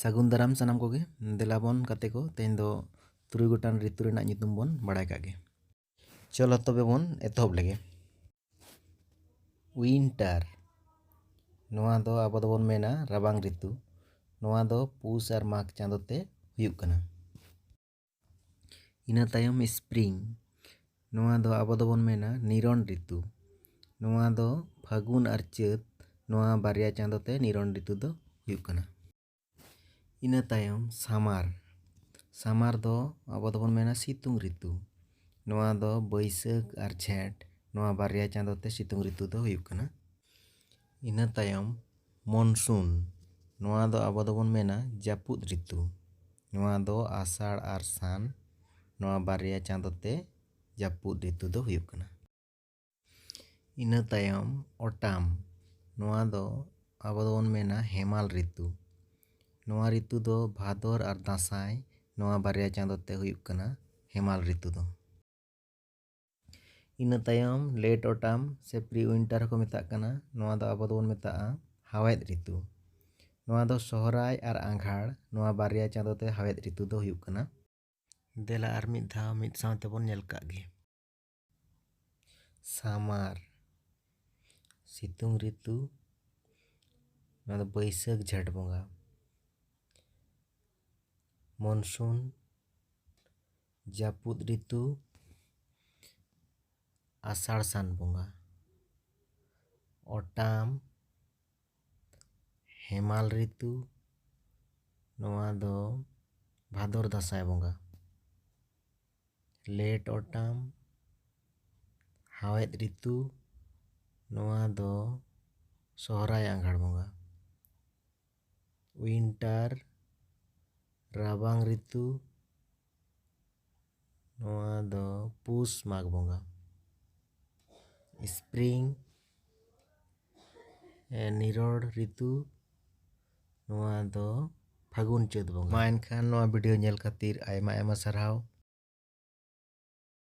ᱥᱟᱹᱜᱩᱱ ᱫᱟᱨᱟᱢ ᱥᱟᱱᱟᱢ ᱠᱚᱜᱮ ᱫᱮᱞᱟ ᱵᱚᱱ ᱜᱟᱛᱮ ᱠᱚ ᱛᱮᱦᱮᱧ ᱫᱚ ᱛᱩᱨᱩᱭ ᱜᱚᱴᱟᱝ ᱨᱤᱛᱩ ᱨᱮᱱᱟᱜ ᱧᱩᱛᱩᱢ ᱵᱚᱱ ᱵᱟᱲᱟᱭ ᱠᱟᱜ ᱜᱮ ᱪᱚᱞᱚ ᱛᱚᱵᱮ ᱵᱚᱱ ᱮᱛᱚᱦᱚᱵ ᱞᱮᱜᱮ ᱩᱭᱤᱱᱴᱟᱨ ᱱᱚᱣᱟ ᱫᱚ ᱟᱵᱚ ᱫᱚᱵᱚᱱ ᱢᱮᱱᱟ ᱨᱟᱵᱟᱝ ᱨᱤᱛᱩ ᱱᱚᱣᱟ ᱫᱚ ᱯᱩᱥ ᱟᱨ ᱢᱟᱜᱽ ᱪᱟᱸᱫᱚ ᱛᱮ ᱦᱩᱭᱩᱜ ᱠᱟᱱᱟ ᱤᱱᱟᱹ ᱛᱟᱭᱚᱢ ᱥᱯᱨᱤᱝ ᱱᱚᱣᱟ ᱫᱚ ᱟᱵᱚ ᱫᱚᱵᱚᱱ ᱢᱮᱱᱟ ᱱᱤᱨᱚᱱ ᱨᱤᱛᱩ ᱱᱚᱣᱟ ᱫᱚ ᱯᱷᱟᱹᱜᱩᱱ ᱟᱨ ᱪᱟᱹᱛ ᱱᱚᱣᱟ ᱵᱟᱨᱭᱟ ᱪᱟᱸᱫᱚ ᱛᱮ ᱱᱤᱨᱚᱱ ᱨᱤᱛᱩ ᱫᱚ ᱦᱩᱭᱩᱜ ᱠᱟᱱᱟ ᱤᱱᱟᱹ ᱛᱟᱭᱚᱢ ᱥᱟᱢᱟᱨ ᱥᱟᱢᱟᱨ ᱫᱚ ᱟᱵᱚ ᱫᱚᱵᱚᱱ ᱢᱮᱱᱟ ᱥᱤᱛᱩᱝ ᱨᱤᱛᱩ ᱱᱚᱣᱟ ᱫᱚ ᱵᱟᱹᱭᱥᱟᱹᱠᱷ ᱟᱨ ᱡᱷᱮᱸᱴ ᱱᱚᱣᱟ ᱵᱟᱨᱭᱟ ᱪᱟᱸᱫᱚ ᱛᱮ ᱥᱤᱛᱩᱝ ᱨᱤᱛᱩ ᱫᱚ ᱦᱩᱭᱩᱜ ᱠᱟᱱᱟ ᱤᱱᱟᱹ ᱛᱟᱭᱚᱢ ᱢᱚᱱᱥᱩᱱ ᱱᱚᱣᱟ ᱫᱚ ᱟᱵᱚ ᱫᱚᱵᱚᱱ ᱢᱮᱱᱟ ᱡᱟᱹᱯᱩᱫ ᱨᱤᱛᱩ ᱱᱚᱣᱟ ᱫᱚ ᱟᱥᱟᱲ ᱟᱨ ᱥᱟᱱ ᱱᱚᱣᱟ ᱵᱟᱨᱭᱟ ᱪᱟᱸᱫᱚ ᱛᱮ ᱡᱟᱹᱯᱩᱫ ᱨᱤᱛᱩ ᱫᱚ ᱦᱩᱭᱩᱜ ᱠᱟᱱᱟ ᱤᱱᱟᱹ ᱛᱟᱭᱚᱢ ᱚᱴᱟᱢ ᱱᱚᱣᱟ ᱫᱚ ᱟᱵᱚ ᱫᱚᱵᱚᱱ ᱢᱮᱱᱟ ᱦᱮᱢᱟᱞ ᱨᱤᱛᱩ ᱱᱚᱣᱟ ᱨᱤᱛᱩ ᱫᱚ ᱵᱷᱟᱫᱚᱨ ᱟᱨ ᱫᱟᱸᱥᱟᱭ ᱱᱚᱣᱟ ᱵᱟᱨᱭᱟ ᱪᱟᱸᱫᱚ ᱛᱮ ᱦᱩᱭᱩᱜ ᱠᱟᱱᱟ ᱦᱮᱢᱟᱞ ᱨᱤᱛᱩ ᱫᱚ ᱤᱱᱟᱹ ᱛᱟᱭᱚᱢ ᱞᱮᱴ ᱚᱴᱟᱢ ᱥᱮ ᱯᱨᱤ ᱩᱭᱤᱱᱴᱟᱨ ᱦᱚᱸᱠᱚ ᱢᱮᱛᱟᱜ ᱠᱟᱱᱟ ᱱᱚᱣᱟ ᱫᱚ ᱟᱵᱚ ᱫᱚᱵᱚᱱ ᱢᱮᱛᱟᱜᱼᱟ ᱦᱟᱣᱮᱫ ᱨᱤᱛᱩ ᱱᱚᱣᱟ ᱫᱚ ᱥᱚᱦᱨᱟᱭ ᱟᱨ ᱟᱸᱜᱷᱟᱲ ᱱᱚᱣᱟ ᱵᱟᱨᱭᱟ ᱪᱟᱸᱫᱳ ᱛᱮ ᱦᱟᱣᱮᱫ ᱨᱤᱛᱩ ᱫᱚ ᱦᱩᱭᱩᱜ ᱠᱟᱱᱟ ᱫᱮᱞᱟ ᱟᱨ ᱢᱤᱫ ᱫᱷᱟᱣ ᱢᱤᱫ ᱥᱟᱶ ᱛᱮᱵᱚᱱ ᱧᱮᱞ ᱠᱟᱜ ᱜᱮ ᱥᱟᱢᱟᱨ ᱥᱤᱛᱩᱝ ᱨᱤᱛᱩ ᱱᱚᱣᱟ ᱫᱚ ᱵᱟᱹᱭᱥᱟᱹᱠᱷ ᱡᱷᱮᱸᱴ ᱵᱚᱸᱜᱟ ᱢᱚᱱᱥᱩᱱ ᱡᱟᱹᱯᱩᱫ ᱨᱤᱛᱩ ᱟᱥᱟᱲ ᱥᱟᱱ ᱵᱚᱸᱜᱟ ᱚᱴᱟᱢ ᱦᱮᱢᱟᱞ ᱨᱤᱛᱩ ᱱᱚᱣᱟ ᱫᱚ ᱵᱷᱟᱫᱚᱨ ᱫᱟᱸᱥᱟᱭ ᱵᱚᱸᱜᱟ ᱞᱮᱴ ᱚᱴᱟᱢ ᱦᱟᱣᱮᱫ ᱨᱤᱛᱩ ᱱᱚᱣᱟ ᱫᱚ ᱥᱚᱦᱚᱨᱟᱭ ᱟᱸᱜᱷᱟᱲ ᱵᱚᱸᱜᱟ ᱩᱭᱤᱱᱴᱟᱨ ᱨᱟᱵᱟᱝ ᱨᱤᱛᱩ ᱱᱚᱣᱟ ᱫᱚ ᱯᱩᱥ ᱢᱟᱜᱽ ᱵᱚᱸᱜᱟ ᱥᱯᱨᱤᱝ ᱱᱤᱨᱚᱲ ᱨᱤᱛᱩ ᱱᱚᱣᱟ ᱫᱚ ᱯᱷᱟᱹᱜᱩᱱ ᱪᱟᱹᱛ ᱵᱚᱸᱜᱟ ᱢᱟ ᱮᱱᱠᱷᱟᱱ ᱱᱚᱣᱟ ᱵᱷᱤᱰᱤᱭᱳ ᱧᱮᱞ ᱠᱷᱟᱹᱛᱤᱨ ᱟᱭᱢᱟ ᱟᱭᱢᱟ ᱥᱟᱨᱦᱟᱣ